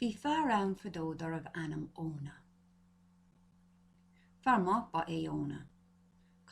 Bhí fear ann fadó darbh ainm Ióna. Fear maith ba é Ióna.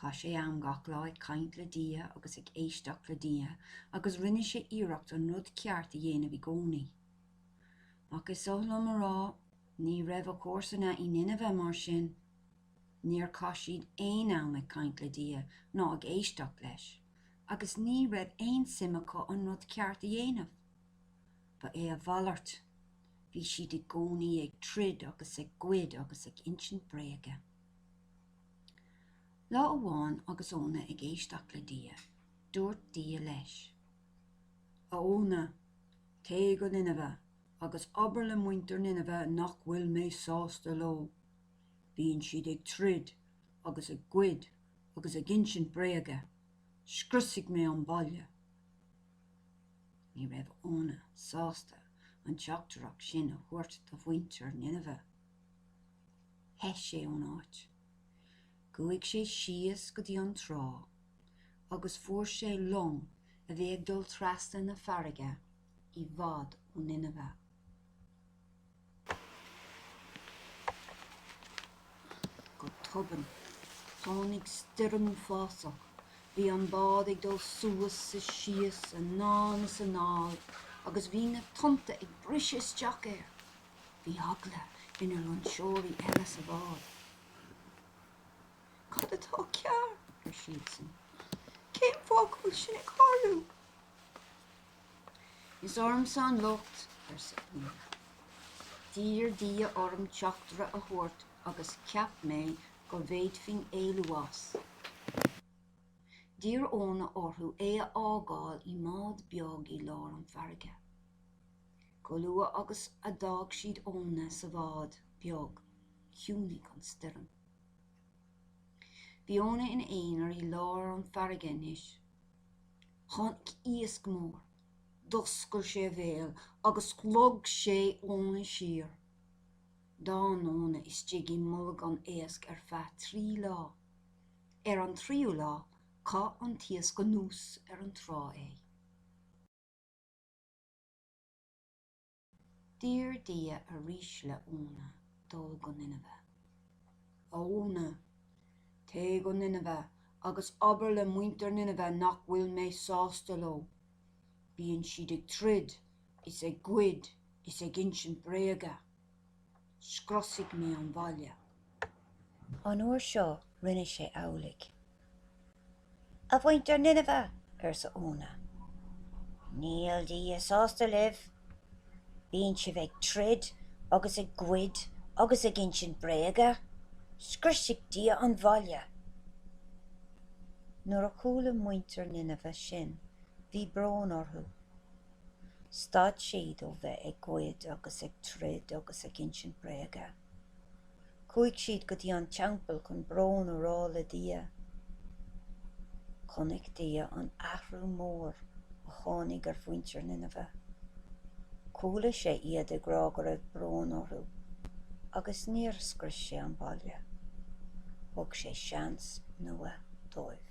Chaith sé am gach lá ag caint le Dia agus ag éisteacht le Dia agus rinne sé iarracht an rud ceart a dhéanamh i gcónaí. Ach is oth liom a rá, ní raibh a chomharsana i Ninive mar sin. Níor chaith siad aon am ag caint le Dia ná ag éisteacht leis agus ní raibh aon suim acu an rud ceart a dhéanamh. Ba é a mhalairt. Bhí siad i gcónaí ag troid agus ag goid agus ag insint bréige. Lá amháin agus Ióna ag éisteacht le Dia, dúirt Dia leis. A Ióna, téigh go Ninive agus abair le muintir Ninive nach bhfuil mé sásta leo. Bíonn siad ag troid agus ag goid agus ag insint bréige. Scriosfaidh mé an baile. Ní raibh Ióna sásta an teachtaireacht sin a thabhairt do mhuintir Ninive. theith sé ón áit. Chuaigh sé síos go dtí an trá agus fuair sé long a bhí ag dul trasna na farraige i bhfad ó Ninive. Go tobann, tháinig stoirm uafásach. Bhí an bád ag dul suas is síos, anonn is anall, agus bhí na tonnta ag briseadh isteach air. Bhí eagla ar na loingseoirí eile sa bhád. Cad atá cearr? ar siadsan. Cén fáth go bhfuil sin ag tarlú? Is ormsa an locht, arsa Ióna. D'iarr Dia orm teachtaire a thabhairt agus cheap mé go bhféadfainn éalú as. D'iarr Ióna orthu é a fhágáil i mbád beag i lár an farraige. Go luath agus a d'fhág siad Ióna sa bhád beag, chiúnaigh an stoirm. Bhí Ióna ina aonar i lár an farraige anois. Tháinig iasc mór, d'oscail sé a bhéal agus shlog sé Ióna siar. D'fhan Ióna istigh i mbolg an éisc ar feadh trí lá. Ar an tríú lá, chaith an t-iasc anuas ar an trá é. D'iarr Dia arís le Ióna dul go Ninive. A Ióna, téigh go Ninive agus abair le muintir Ninive nach bhfuil mé sásta leo. Bíonn siad ag troid is ag goid is ag insint bréaga. Scriosfaidh mé an baile. An uair seo rinne sé amhlaidh. A mhuintir Ninive! arsa Ióna. Níl Dia sásta libh. Bíonn sibh ag troid agus ag goid agus ag insint bréaga. Scriosfaidh Dia an bhaile! Nuair a chuala muintir Ninive sin, bhí brón orthu. Stad siad ó bheith ag goid agus ag troid agus ag insint bréaga. Chuaigh siad go dtí an teampall chun brón a rá le Dia. Chonaic Dia an athrú mór a tháinig ar mhuintir Ninive. Chuala sé iad ag rá go raibh brón orthu agus níor scrios sé an baile. Thug sé seans nua dóibh.